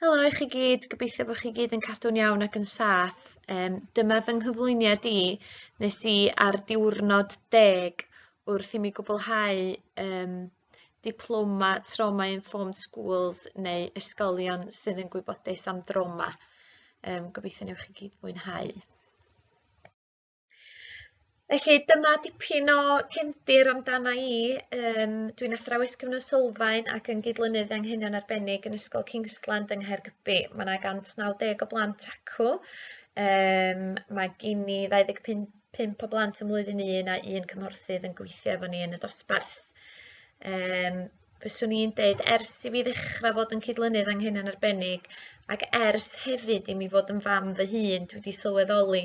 Helo i chi gyd, gobeithio bod chi gyd yn cadw'n iawn ac yn saff. Yym dyma fy nghyflwyniad i nes i ar diwrnod deg wrth i mi gwblhau yym diploma Trauma Informed Schools neu ysgolion sydd yn gwybodus am drawma. Yym gobeithio newch chi gyd fwynhau. Felly dyma dipyn o cefndir amdana i yym dwi'n athrawes cyfnod sylfaen ac yn gydlynydd anghenion arbennig yn Ysgol Kingsland yng Nghaergybi. Ma' 'na 190 o blant acw yym mae gin i 25 pump o blant ym mlwyddyn un a un cymhorthydd yn gweithio efo ni yn y dosbarth. Yym fyswn i'n deud ers i fi ddechra fod yn cydlynydd anghynion arbennig ac ers hefyd i mi fod yn fam fy hun dwi 'di sylweddoli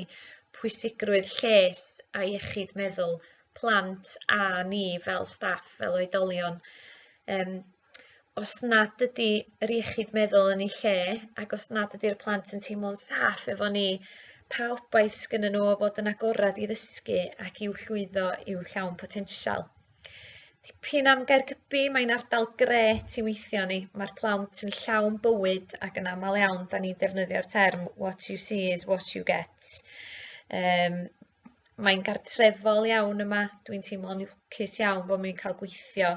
pwysigrwydd lles a iechyd meddwl plant a ni fel staff fel oedolion yym os nad ydi yr iechyd meddwl yn ei lle ac os nad ydi'r plant yn teimlo'n saff efo ni pa obaith sgynnyn n'w o fod yn agored i ddysgu ac i'w llwyddo i'w llawn potensial? Dipyn am Gaergybi, mae'n ardal grêt i weithio ni. Mae'r plant yn llawn bywyd ac yn aml iawn da ni'n defnyddio'r term what you see is what you get. Um, mae'n gartrefol iawn yma, dwi'n teimlo'n lwcus iawn bod mi'n cael gweithio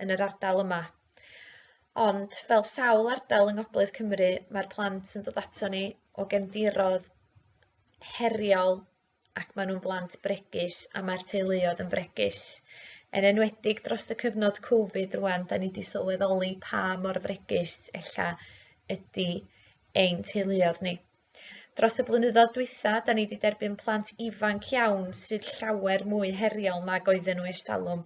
yn yr ardal yma. Ond fel sawl ardal yng Ngogledd Cymru, mae'r plant yn dod ato ni o gefndirodd heriol ac maen nhw'n blant bregus a mae'r teuluoedd yn fregus. Yn enwedig dros y cyfnod Covid rwan, da ni wedi sylweddoli pa mor fregus ella ydy ein teuluoedd ni. Dros y blynyddoedd dwytha, da ni wedi derbyn plant ifanc iawn sydd llawer mwy heriol nag oedden nhw estalwm.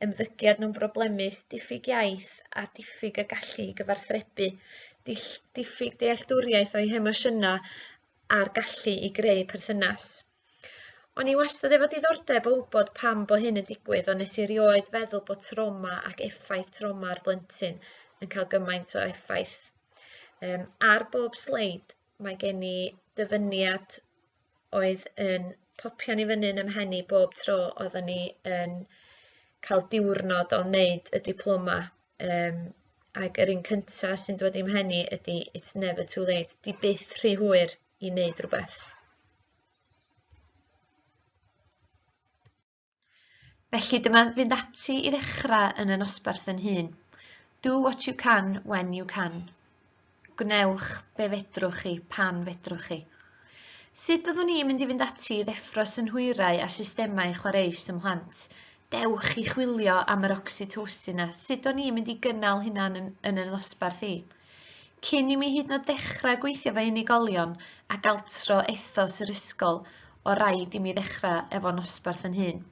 Ymddygiad nhw'n broblemus, diffyg iaith a diffyg y gallu i gyfarthrebu, diffyg dealltwriaeth o'i hemosiynau a'r gallu i greu perthynas. O'n i wastad efo diddordeb o wybod pam bo' hyn yn digwydd ond nes i rioed feddwl bo' trawma ac effaith trawma ar blentyn yn ca'l gymaint o effaith. Yym ar bob sleid mae gen i dyfyniad oedd yn popian i fyny yn 'y mhen i bob tro oeddwn i yn ca'l diwrnod o neud y diploma Um, ac yr un cyntaf sy'n dod i'm henni ydy It's Never Too Late. Di byth rhy hwyr i wneud rhywbeth. Felly dyma fynd ati i ddechrau yn y nosbarth yn hun. Do what you can when you can. Gwnewch be fedrwch chi, pan fedrwch chi. Sut fyddwn ni'n mynd i fynd ati i ddeffro synhwyrau a systemau chwareus ym mhlant? Dewch i chwilio am yr oxytocin a sut o'n ni'n mynd i gynnal hynna yn, yn y nosbarth i. Cyn i mi hyd yn oed ddechrau gweithio fe unigolion ac altro ethos yr ysgol, o rhaid i mi ddechrau efo nosbarth yn hun.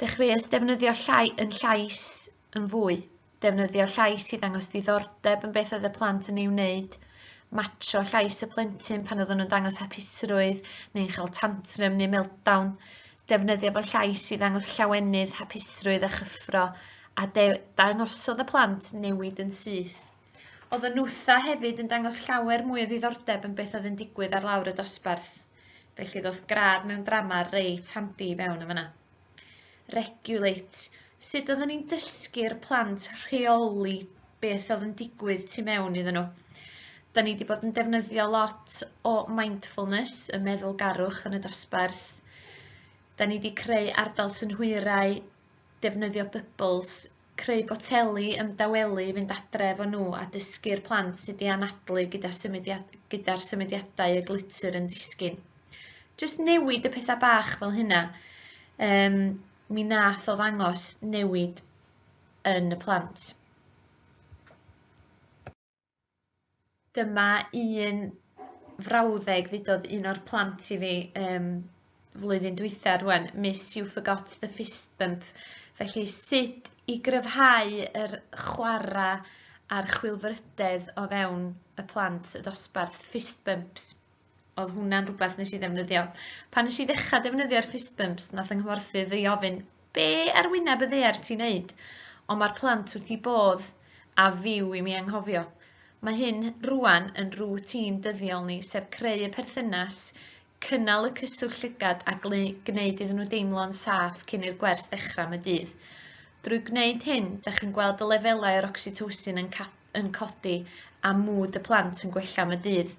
Dechreuais defnyddio llai, yn llais yn fwy, defnyddio llais i ddangos diddordeb yn beth oedd y plant yn ei wneud, matsio llais y plentyn pan oedden nhw'n dangos hapusrwydd neu'n cael tantrym neu meltdown, defnyddio fy llais i ddangos llawenydd, hapusrwydd a chyffro, a dangosodd y plant newid yn syth. Oedd y nwtha hefyd yn dangos llawer mwy o ddiddordeb yn beth oedd yn digwydd ar lawr y dosbarth. Felly ddoth gradd mewn drama reit handi i fewn yn fanna. regulate, sut oedden ni'n dysgu'r plant rheoli beth oedd yn digwydd tu mewn iddyn nhw. Da ni wedi bod yn defnyddio lot o mindfulness, y meddwl garwch yn y dosbarth. Da ni wedi creu ardal synhwyrau, defnyddio bubbles creu poteli yn dawelu fynd adre efo nhw a dysgu'r plant sut i anadlu gyda symudiad- gyda'r symudiadau y glitter yn disgyn. Jyst newid y petha bach fel hynna yym mi nath o ddangos newid yn y plant. Dyma un frawddeg ddudodd un o'r plant i fi yym flwyddyn dwytha rŵan miss you forgot the fist bump felly sut i gryfhau yr chwara' a'r chwilfrydedd o fewn y plant y dosbarth fist bumps oedd hwnna'n rhywbeth nes i ddefnyddio. Pan nes i ddechrau defnyddio'r fist bumps, nath yng nghyfforthydd ei ofyn, be ar wyneb y ddear ti'n neud? Ond mae'r plant wrth i bodd a fyw i mi anghofio. Mae hyn rwan yn rŵtîn dyddiol ni, sef creu y perthynas, cynnal y cyswllt llygad a gwneud iddyn nhw deimlo'n saff cyn i'r gwers ddechrau am y dydd. Drwy gwneud hyn, da chi'n gweld y lefelau o'r oxytocin yn, yn codi a mwd y plant yn gwella am y dydd.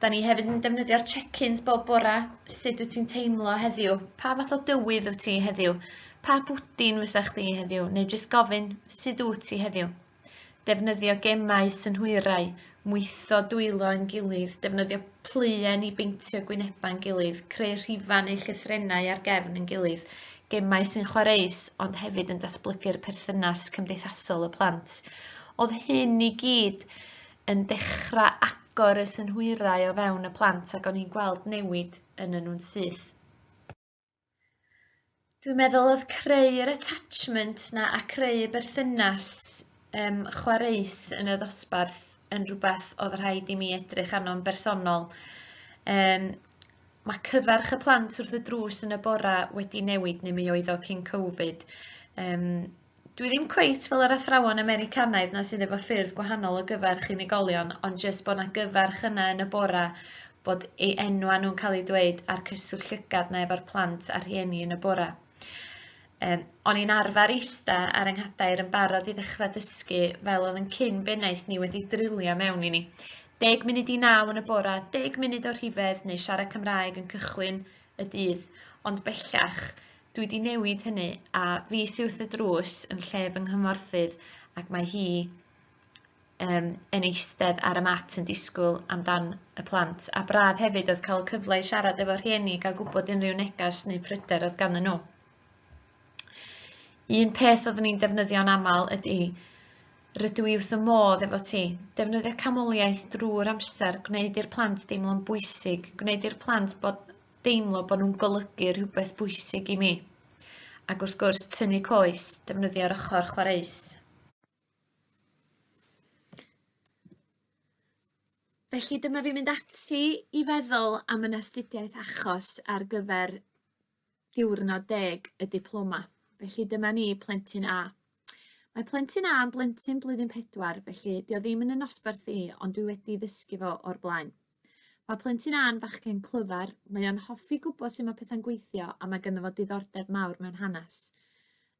Da ni hefyd yn defnyddio'r check-ins bob bora. Sut wyt ti'n teimlo heddiw? Pa fath o dywydd wyt ti heddiw? Pa bwdin fysa chdi heddiw? Neu jyst gofyn, sut wyt ti heddiw? Defnyddio gemau, synhwyrau, mwytho dwylo yn gilydd, defnyddio pluen i beintio gwynebau'n gilydd, creu rhifau neu llythrennau ar gefn yn gilydd, gemau sy'n chwareus ond hefyd yn datblygu'r perthynas cymdeithasol y plant. Oedd hyn i gyd yn dechra agor y synhwyrau o fewn y plant ac o'n i'n gweld newid ynnyn nhw'n syth. Dwi'n meddwl oedd creu yr attachment 'na a creu y berthynas um, chwareus yn y ddosbarth yn rhywbeth oedd rhaid i mi edrych arno'n bersonol. Um, mae cyfarch y plant wrth y drws yn y bora wedi newid neu mi oedd o cyn Covid. Um, Dwi ddim cweit fel yr athrawon Americanaidd 'na sydd efo ffyrdd gwahanol o gyfarch unigolion ond jyst bo' 'na gyfarch yna yn y bora bod ei enwa nhw'n ca'l ei dweud a'r cyswllt llygad 'na efo'r plant a rhieni yn y bora. Yym o'n i'n arfar ista ar 'y nghadair yn barod i ddechra dysgu fel o'dd 'yn cyn bennaeth ni wedi drilio mewn i ni. Deg munud i naw yn y bora, deg munud o rhifedd neu siarad Cymraeg yn cychwyn y dydd ond bellach Dwi 'di newid hynny a fis uwth y drws yn lle fy nghymhorthydd ac mae hi yym yn eistedd ar y mat yn disgwyl amdan y plant a braf hefyd oedd cael y cyfle i siarad efo rhieni ga'l gwbod unrhyw negas neu pryder oedd ganddyn nhw. Un peth oeddwn i'n defnyddio'n amal ydi rydw i wrth y modd efo ti. Defnyddio camoliaeth drwy'r amser, gwneud i'r plant deimlo'n bwysig, gwneud i'r plant bod deimlo bod nhw'n golygu rhywbeth bwysig i mi. Ac wrth gwrs, tynnu coes, defnyddio'r ochr chwareus. Felly dyma fi mynd ati i feddwl am yn astudiaeth achos ar gyfer diwrnod deg y diploma. Felly dyma ni plentyn A. Mae plentyn A yn blentyn blwyddyn pedwar felly 'di o ddim yn 'yn nosbarth i ond dwi wedi ddysgu fo o'r blaen. Mae plentyn Anne fachgen clyfar, mae o'n hoffi gwybod sut mae pethau'n gweithio a mae ganddo fo diddordeb mawr mewn hanes.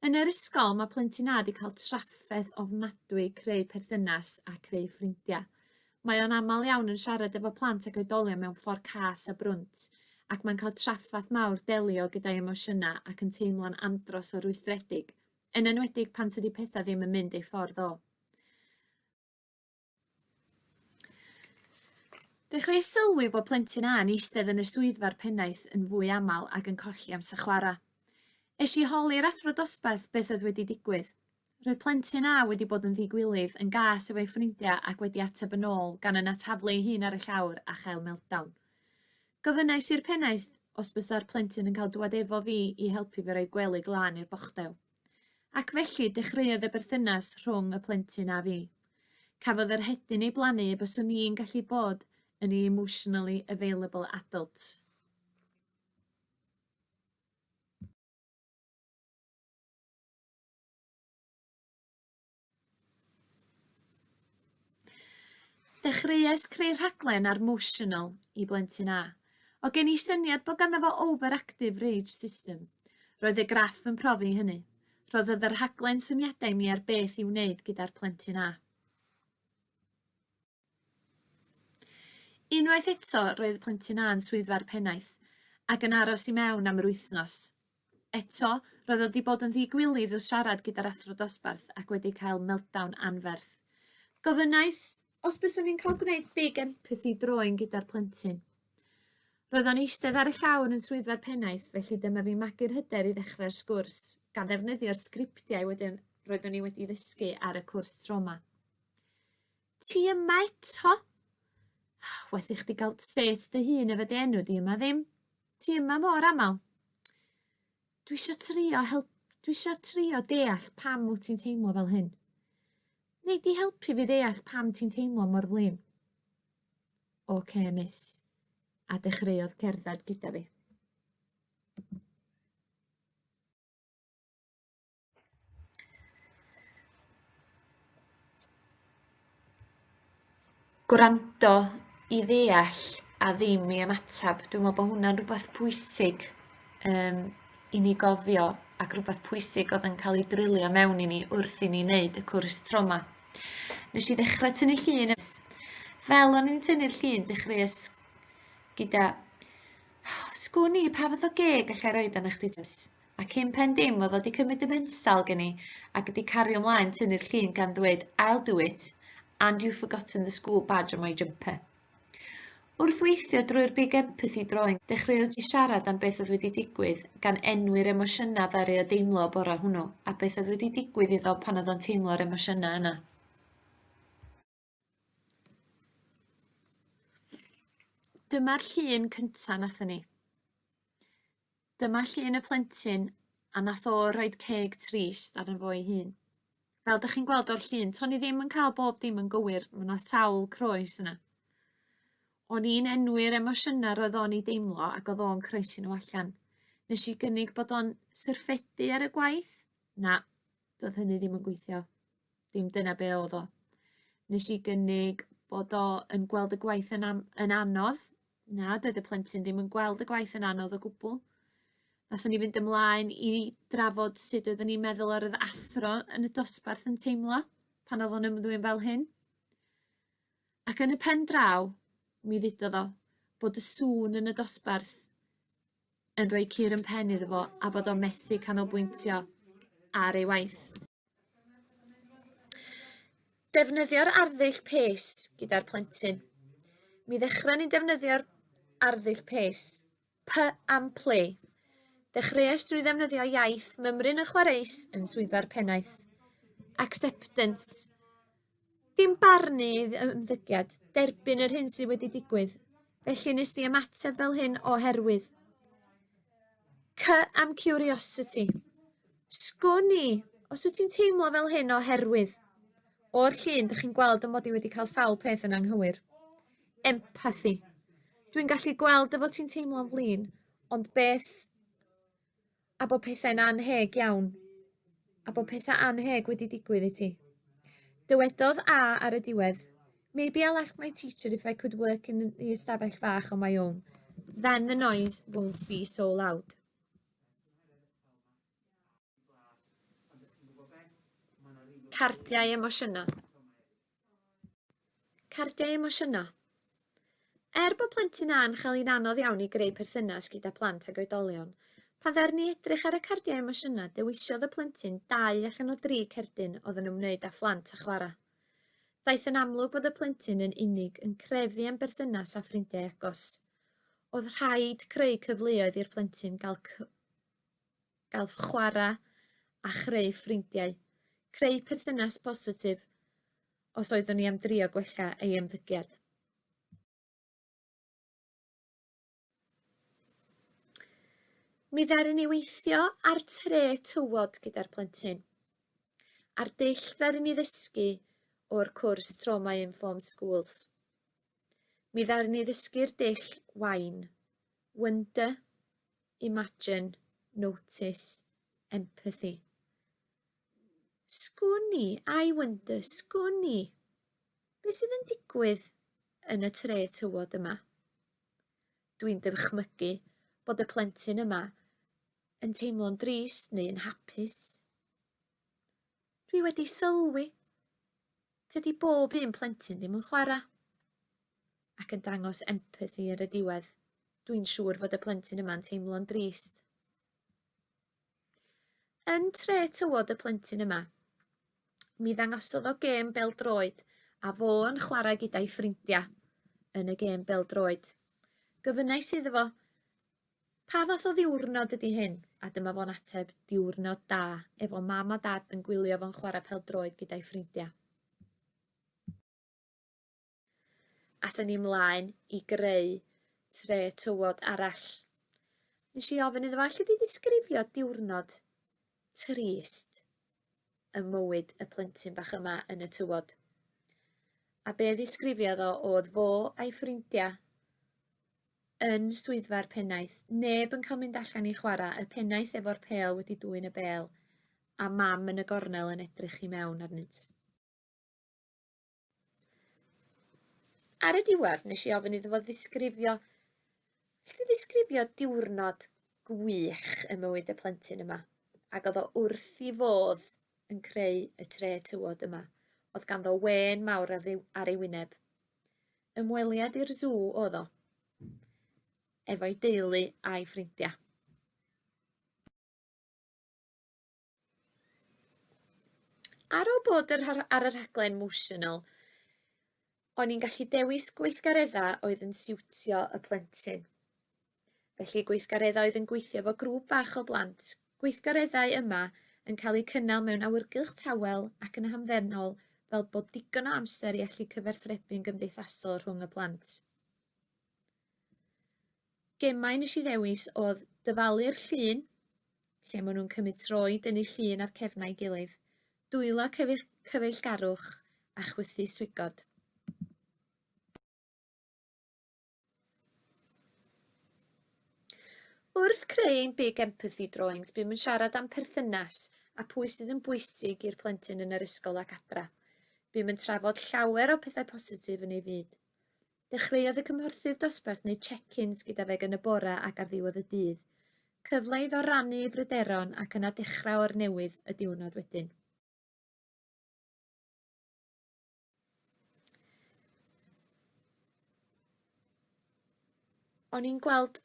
Yn yr ysgol mae plentyn A wedi cael trafferth ofnadwy creu perthynas a creu ffrindiau. Mae o'n aml iawn yn siarad efo plant ac oedolion mewn ffordd cas a brwnt ac mae'n cael trafferth mawr delio gyda'i emosiynau ac yn teimlo'n andros o rwystredig, yn enwedig pan tydi pethau ddim yn mynd ei ffordd o. Dechreuais sylwi bod plentyn A'n eistedd yn y swyddfa'r pennaeth yn fwy aml ac yn colli amser chwarae. Es i holi'r athro dosbarth beth oedd wedi digwydd. Roedd plentyn A wedi bod yn ddigwilydd yn gas efo'i ffrindiau ac wedi ateb yn ôl gan yna taflu ei hun ar y llawr a chael meltdown. Gofynnais i'r pennaeth os bysa'r plentyn yn cael dŵad efo fi i helpu fi roi gwely glân i'r bochdew. Ac felly dechreuodd y berthynas rhwng y plentyn a fi. Cafodd yr hedyn ei blannu y byswn i'n gallu bod yn ei emotionally available adult. Dechreuais creu rhaglen ar Motional i blentyn A. O gen i syniad bod ganddo fo overactive rage system. Roedd y graff yn profi hynny. Rhoddodd y rhaglen syniadau i mi ar beth i'w wneud gyda'r plentyn A. Unwaith eto roedd y plentyn a'n swyddfa'r pennaeth, ac yn aros i mewn am yr wythnos. Eto, roedd o 'di bod yn ddi-gwilydd wrth siarad gyda'r athro dosbarth ac wedi cael meltdown anferth. Gofynnais os byswn i'n cael gwneud big empathy drawing gyda'r plentyn. Roedd o'n eistedd ar y llawr yn swyddfa'r pennaeth, felly dyma fi magu'r hyder i ddechrau'r sgwrs, gan ddefnyddio'r sgriptiau wedyn roeddwn i wedi ddysgu ar y cwrs troma. Ti yma eto? Waeth i chdi ga'l set dy hun efo dy enw di yma ddim. Ti yma mor amal. Dwi isio trio help dwi isio trio deall pam wt ti'n teimlo fel hyn. Nei di helpu fi ddeall pam ti'n teimlo mor flin? Ok miss. A dechreuodd cerdded gyda fi. Gwrando i ddeall a ddim i ymateb. Dwi'n meddwl bod hwnna'n rhywbeth pwysig um, i ni gofio ac rhywbeth pwysig oedd yn cael ei drilio mewn i ni wrth i ni wneud y cwrs troma. Nes i ddechrau tynnu llun. Fel o'n i'n tynnu'r llun, dechreuais gyda... Sgwn i, pa fath o geg allai roed yn eich dydws? A cyn pen dim oedd o 'di cymryd y mensal gen i ac 'di cario mlaen tynnu'r llun gan ddweud I'll do it and you've forgotten the school badge on my jumper. Wrth weithio drwy'r Big Empathy Drawing, dechreuodd Ji siarad am beth oedd wedi digwydd, gan enwi'r emosiynau ddaru o deimlo y bore hwnnw, a beth oedd wedi digwydd iddo pan oedd o'n teimlo'r emosiynau yna. Dyma'r llun cynta' nathon ni. Dyma llun y plentyn a nath o roid ceg trist arno fo ei hun. Fel 'dach chi'n gweld o'r llun to'n i ddim yn ca'l bob dim yn gywir ma' 'na sawl croes yna. O'n i'n enwi'r emosiyna roedd o'n 'u deimlo ac odd o'n croesi n'w allan. Nesh i gynnig bod o'n syrffedu ar y gwaith? Na, do'dd hynny ddim yn gweithio. Dim dyna be' odd o. Nesh i gynnig bod o yn gweld y gwaith yn am- yn anodd. Na doedd y plentyn ddim yn gweld y gwaith yn anodd o gwbwl. Nathon ni fynd ymlaen i drafod sud oedden ni'n meddwl yr o'dd athro yn y dosbarth yn teimlo pan odd o'n ymddwyn fel hyn. Ac yn y pen draw mi ddudodd o bod y sŵn yn y dosbarth yn rhoi cur yn pen iddo fo a bod o'n methu canolbwyntio ar ei waith. Defnyddio'r arddull pês gyda'r plentyn. Mi ddechrau ni'n defnyddio'r arddull pês. P am play. Dechreuais drwy ddefnyddio iaith mymryn yn chwareus yn swyddfa'r pennaeth. Acceptance. Dim barnu idd- yy ymddygiad. Derbyn yr hyn sydd wedi digwydd. Felly nes di ymateb fel hyn oherwydd. Cy am curiosity. Sgwn i, os wyt ti'n teimlo fel hyn oherwydd. O'r llun, dych chi'n gweld ym mod i wedi cael sawl peth yn anghywir. Empathy. Dwi'n gallu gweld dy fod ti'n teimlo'n flin, ond beth a bod pethau'n anheg iawn, a bod pethau anheg wedi digwydd i ti. Dywedodd A ar y diwedd, Maybe I'll ask my teacher if I could work in the ystafell fach on my own. Then the noise won't be so loud. Cardiau emosiynau. Cardiau emosiynol. Er bod plentyn A yn chael hi'n anodd iawn i greu perthynas gyda phlant ag oedolion, pan ddaru ni edrych ar y cardiau emosiynau dewisiodd y plentyn dau allan o dri cerdyn oedd yn ymwneud â phlant a chwarae. Daeth yn amlwg fod y plentyn yn unig yn crefu am berthynas a ffrindiau agos. Oedd rhaid creu cyfleoedd i'r plentyn gael gael chwarae a chreu ffrindiau, creu perthynas positif os oeddwn i am drio gwella ei ymddygiad. Mi ddaru ni weithio ar tre tywod gyda'r plentyn. A'r dull ddaru ni ddysgu o'r cwrs Trauma Informed Schools. Mi ddaru ni ddysgu'r dull wain, wonder, Imagine, notice, empathy. Sgwn i, I wonder, sgwn i. Be sydd yn digwydd yn y tre tywod yma? Dwi'n dychmygu bod y plentyn yma yn teimlo'n drist neu yn hapus. Dwi wedi sylwi Tydi bob un plentyn ddim yn chwarae. Ac yn dangos empathi ar y diwedd. Dwi'n siŵr fod y plentyn yma'n teimlo'n drist. Yn tre tywod y plentyn yma, mi ddangosodd o gêm beldroed a fo yn chwarae gyda'i ffrindiau yn y gêm beldroed. Gofynnais iddo fo, Pa fath o ddiwrnod ydy hyn? A dyma fo'n ateb, diwrnod da, efo mam a dad yn gwylio fo'n chwarae pel-droed gyda'i ffrindiau. Athyn ni mlaen i greu tre tywod arall. Nes i ofyn iddo fo, allu di ddisgrifio diwrnod trist y mywyd y plentyn bach yma yn y tywod? A be ddisgrifiodd o oedd fo a'i ffrindiau yn swyddfa'r pennaeth. Neb yn cael mynd allan i chwarae, y pennaeth efo'r pêl wedi dwyn y bêl, a mam yn y gornel yn edrych i mewn arnynt. Ar y diwedd, nes i ofyn iddo fo ddisgrifio, lle ddisgrifio diwrnod gwych ym mywyd y plentyn yma, ac oedd o wrth i fodd yn creu y tre tywod yma. Oedd ganddo wen mawr ar ei wyneb. Ymweliad i'r sw oedd o. Efo'i deulu a'i ffrindia. Ar ôl bod ar y rhaglen Motional, o'n i'n gallu dewis gweithgareddau oedd yn siwtio y plentyn. Felly gweithgareddau oedd yn gweithio fo grŵp bach o blant. Gweithgareddau yma yn cael eu cynnal mewn awyrgylch tawel ac yn hamddenol fel bod digon o amser i allu cyfarthrebu'n gymdeithasol rhwng y plant. Gemau nes i ddewis oedd dyfalu'r llun, lle maen nhw'n cymryd tro i dynnu llun ar cefnau ei gilydd, dwylo cyfeillgarwch a chwythu swigod. Wrth creu ein Big Empathy Drawings, bum yn siarad am perthynas a pwy sydd yn bwysig i'r plentyn yn yr ysgol ac adra. Bum yn trafod llawer o pethau positif yn ei fyd. Dechreuodd y cymhorthydd dosbarth neu check-ins gyda fe gan y bora ac ar ddiwedd y dydd. Cyfle iddo rannu ei bryderon ac yna dechrau o'r newydd y diwrnod wedyn. O'n i'n gweld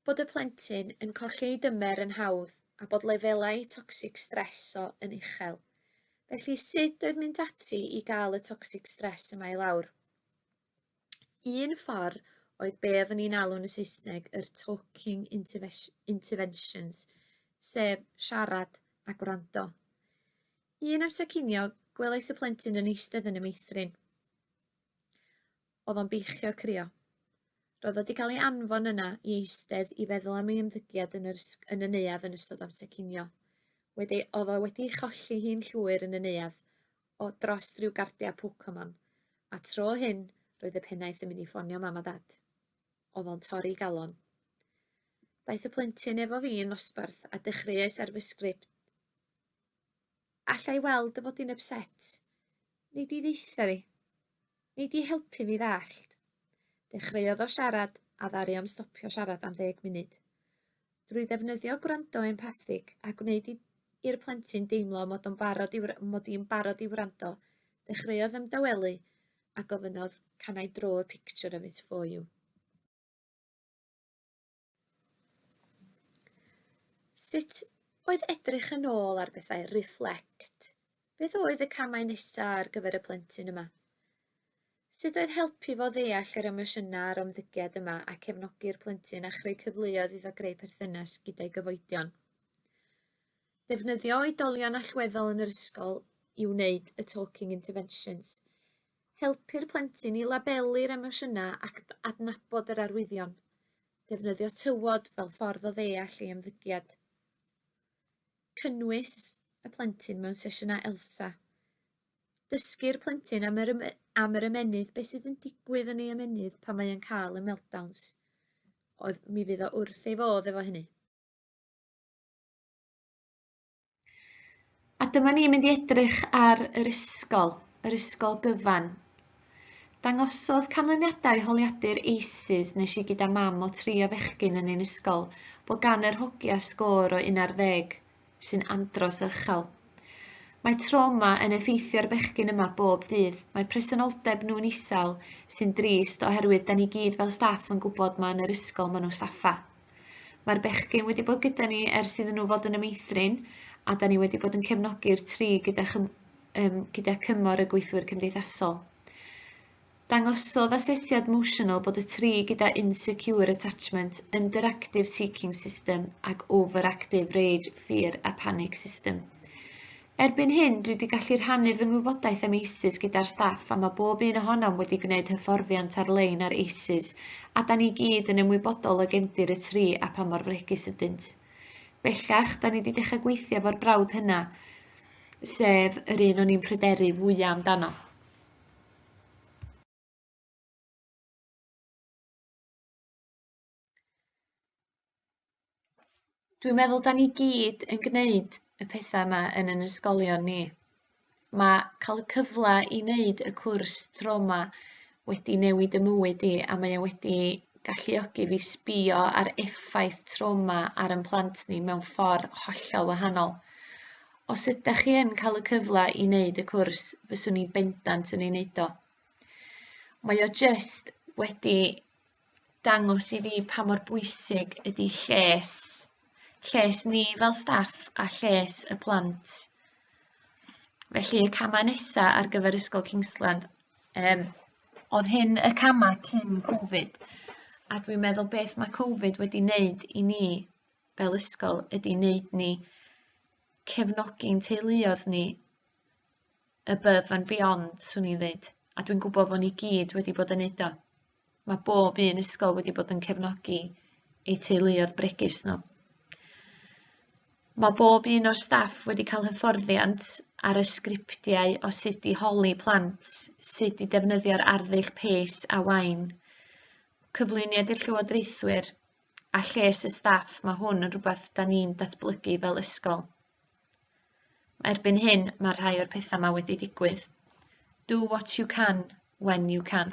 bod y plentyn yn colli ei dymer yn hawdd a bod lefelau toxic stress o yn uchel. Felly sut oedd mynd ati i gael y toxic stress yma i lawr? Un ffordd oedd be oeddwn ni'n alw'n y Saesneg yr talking interves- interventions, sef siarad a gwrando. Un amser cinio, gwelais y plentyn yn eistedd yn y meithrin. Oedd o'n beichio crio. Roedd wedi cael ei anfon yna i eistedd i feddwl am ei ymddygiad yn, yr, yn y neuadd yn ystod amser cinio. Wedi, oedd o wedi ei cholli hi'n llwyr yn y neuadd, o dros ryw gardiau Pokemon, a tro hyn roedd y pennaeth yn mynd i ffonio mam a dad. Oedd o'n torri galon. Daeth y plentyn efo fi yn nosbarth a dechreuais ar fy sgript. Alla i weld y bod i'n upset? Neu di ddeitha fi? Nei di helpu fi ddallt? Dechreuodd o siarad a ddaru o'm stopio siarad am ddeg munud. Drwy ddefnyddio gwrando empathig a gwneud i i'r plentyn deimlo mod o'n barod i mod i'n barod i wrando, dechreuodd ymdawelu a gofynnodd can I draw a picture of it for you? Sut oedd edrych yn ôl ar bethau Reflect? Beth oedd y camau nesaf ar gyfer y plentyn yma? Sut oedd helpu fo ddeall yr emosiynau a'r ymddygiad yma a cefnogi'r plentyn a chreu cyfleoedd iddo greu perthynas gyda'i gyfoedion? Defnyddio oedolion allweddol yn yr ysgol i wneud y talking interventions. Helpu'r plentyn i labelu'r emosiynau ac adnabod yr arwyddion. Defnyddio tywod fel ffordd o ddeall ei ymddygiad. Cynnwys y plentyn mewn sesiynau ELSA. Dysgu'r plentyn am yr, am yr ymennydd, beth sydd yn digwydd yn ei ymennydd pan mae'n cael y meltdowns. Oedd, mi fydd o wrth ei fodd efo hynny. A dyma ni'n mynd i edrych ar yr ysgol, yr ysgol gyfan. Dangosodd canlyniadau holiadur ACES nes i gyda mam o tri o fechgyn yn ein ysgol bod gan yr hogia sgôr o 11, sy'n andros o uchel. Mae trawma yn effeithio'r bechgyn yma bob dydd, mae presenoldeb nhw'n isel, sy'n drist oherwydd da ni gyd fel staff yn gwybod ma yn yr ysgol ma nhw saffa. Mae'r bechgyn wedi bod gyda ni ers iddyn nhw fod yn y meithrin a da ni wedi bod yn cefnogi'r tri gyda, chym, um, gyda cymor y gweithwyr cymdeithasol. Dangosodd asesiad Motional bod y tri gyda Insecure Attachment, Underactive Seeking System ac Overactive Rage, Fear a Panic System. Erbyn hyn, dwi 'di gallu rhannu fy ngwybodaeth am ACES gyda'r staff a mae bob un ohonom wedi gwneud hyfforddiant ar-lein ar ACES a 'da ni i gyd yn ymwybodol o gefndir y tri a pha mor fregus ydynt. Bellach, 'da ni 'di dechrau gweithio efo'r brawd hynna, sef yr un o'n i'n pryderu fwya' amdano. Dwi'n meddwl 'dan ni gyd yn gneud y petha 'ma yn 'yn ysgolion ni. Ma' ca'l y cyfla i neud y cwrs tro 'ma wedi newid 'ym mywyd i a mae o wedi galluogi fi sbïo ar effaith tro 'ma ar 'yn plant ni mewn ffor hollol wahanol. Os ydach chi yn ca'l y cyfla i neud y cwrs fyswn i bendant yn ei neud o. Mae o jyst wedi dangos i fi pa mor bwysig ydi lles lles ni fel staff a lles y plant. Felly y camau nesaf ar gyfer Ysgol Kingsland, um, oedd hyn y camau cyn Covid, a dwi'n meddwl beth mae Covid wedi wneud i ni fel ysgol ydy wneud ni cefnogi'n teuluodd ni above and beyond 'swn i'n ddeud a dwi'n gwbod bo' ni gyd wedi bod yn neud o. Ma' bob un ysgol wedi bod yn cefnogi eu teuluodd bregus n'w. Ma' bob un o'r staff wedi ca'l hyfforddiant ar y sgriptiau o sut i holi plant, sut i defnyddio'r arddull pês a waun, cyflwyniad i'r llywodraethwyr, a lles y staff ma' hwn yn rwbath 'dan ni'n datblygu fel ysgol. Erbyn hyn, mae rhai o'r pethau 'ma wedi digwydd. Do what you can, when you can.